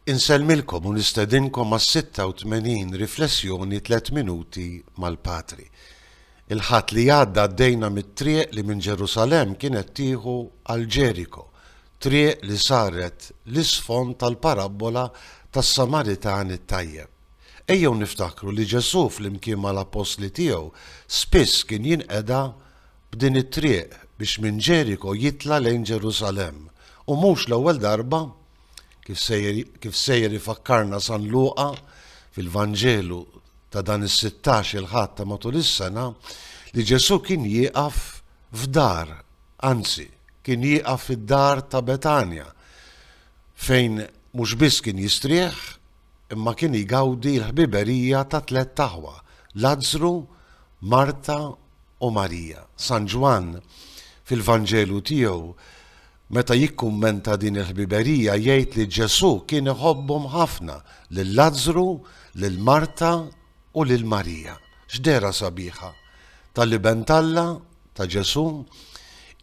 Insellmilkom u nistedinkom għas-86 riflessjoni tliet minuti mal-Patri. Il-ħadd li għadda għaddejna mit-triq li minn Ġerusalem kienet tieħu għal Ġeriko, triq li saret l-isfond tal-parabbola tas-Samaritan it-tajjeb. Ejjew niftakru li Ġesù flimkien mal-appostli tiegħu spiss kien jinqeda b'din it-triq biex minn Ġeriko jitla' lejn Ġerusalemm. U mhux l-ewwel darba, kif sejjer kif sejjer ifakkarna San Luqa fil-Vanġelu ta' dan is-sittax il Ħadd ta' matul is-sena, li Ġesù kien jieqaf f'dar, anzi, kien jieqaf fid-dar ta' Betanja, fejn mhux biss kien jistrieħ, imma kien jgawdi l-ħbiberija ta' tlett aħwa, Lazzru, Marta, u Marija. San Ġwann, fil-Vanġelu tiegħu, meta jikkummenta din il-ħbiberija, jgħid li Ġesù kien iħobbhom ħafna, lil Lazzru, lil Marta, u lil Marija. X'dehra sabiħa tal-Iben t'Alla, ta' Ġesù,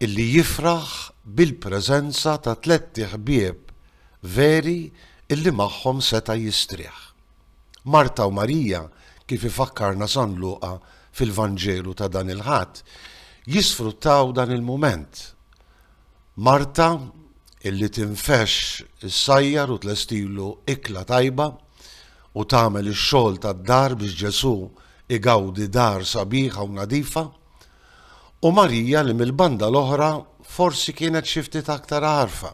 illi jifraħ bil-preżenza ta' tlett iħbieb veri illi magħhom seta' jistrieħ. Marta u Marija, kif ifakkarna San Luqa fil-Vanġelu ta' dan il-Ħadd, jisfruttaw dan il-mument. Marta, illi tinfexx issajjar u tlestilu ikla tajba u tagħmel ix-xogħol tad-dar biex Ġesù igawdi dar sabiħa u nadifa, u Marija li mill-banda l-oħra forsi kienet xi ftit aktar għarfa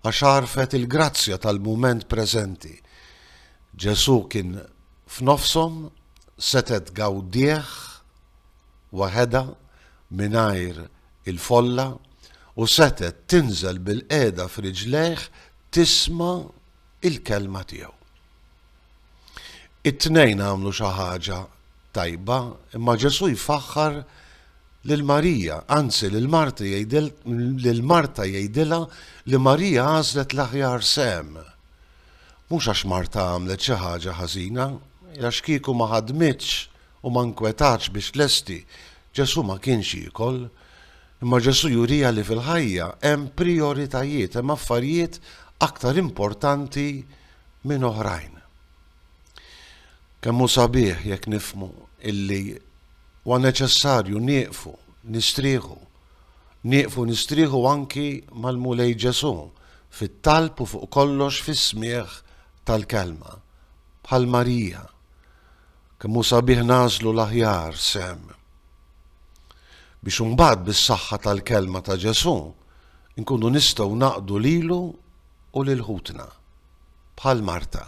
għax għarfet il-grazzja tal-mument preżenti. Ġesù kien f'nofshom, setgħet gawdieh waħedha mingħajr il-folla u setgħet tinżel bilqiegħda f'riġlejh tisma' il-Kelma tiegħu. It-tnejn għamlu xi ħaġa tajba, imma Ġesù jfaħħar lil Marija, anzi lil Marta jgħidil lil Marta jgħidilha li Marija għażlet l-aħjar sem. Mhux għax Marta għamlet xi ħaġa ħażina, għax kieku ma ħadmitx u ma nkwetatx biex lesti, Ġesù ma kienx jiekol. Imma Ġesù jurina li fil-ħajja hemm prijoritajiet, hemm affarijiet aktar importanti minn oħrajn. Kemm hu sabiħ jekk nifhmu illi huwa neċessarju nieqfu, nistrieħu, nieqfu nistrieħu anki mal-Mulej Ġesù fit-talb u fuq kollox fis-smigħ tal-Kelma, bħal Marija. Kemm hu sabiħ nagħżlu l-aħjar sehem, biex imbagħad bis-saħħa tal-Kelma ta' Ġesù nkunu nistgħu naqdu lilu u lil ħutna, bħal Marta.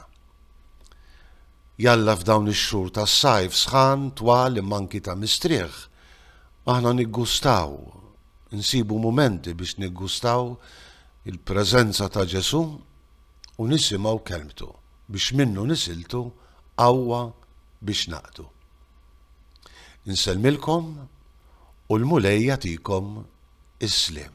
Jalla f'dawn ix-xhur tas-sajf sħan, twal imma anki ta' mistrieħ, aħna niggustaw, insibu mumenti biex niggustaw il-preżenza ta' Ġesù u nisimgħu kelmtu. biex minnu nisiltu qawwa biex naqdu. Insellmilkom u l-Mulej jagħtikom is-sliem.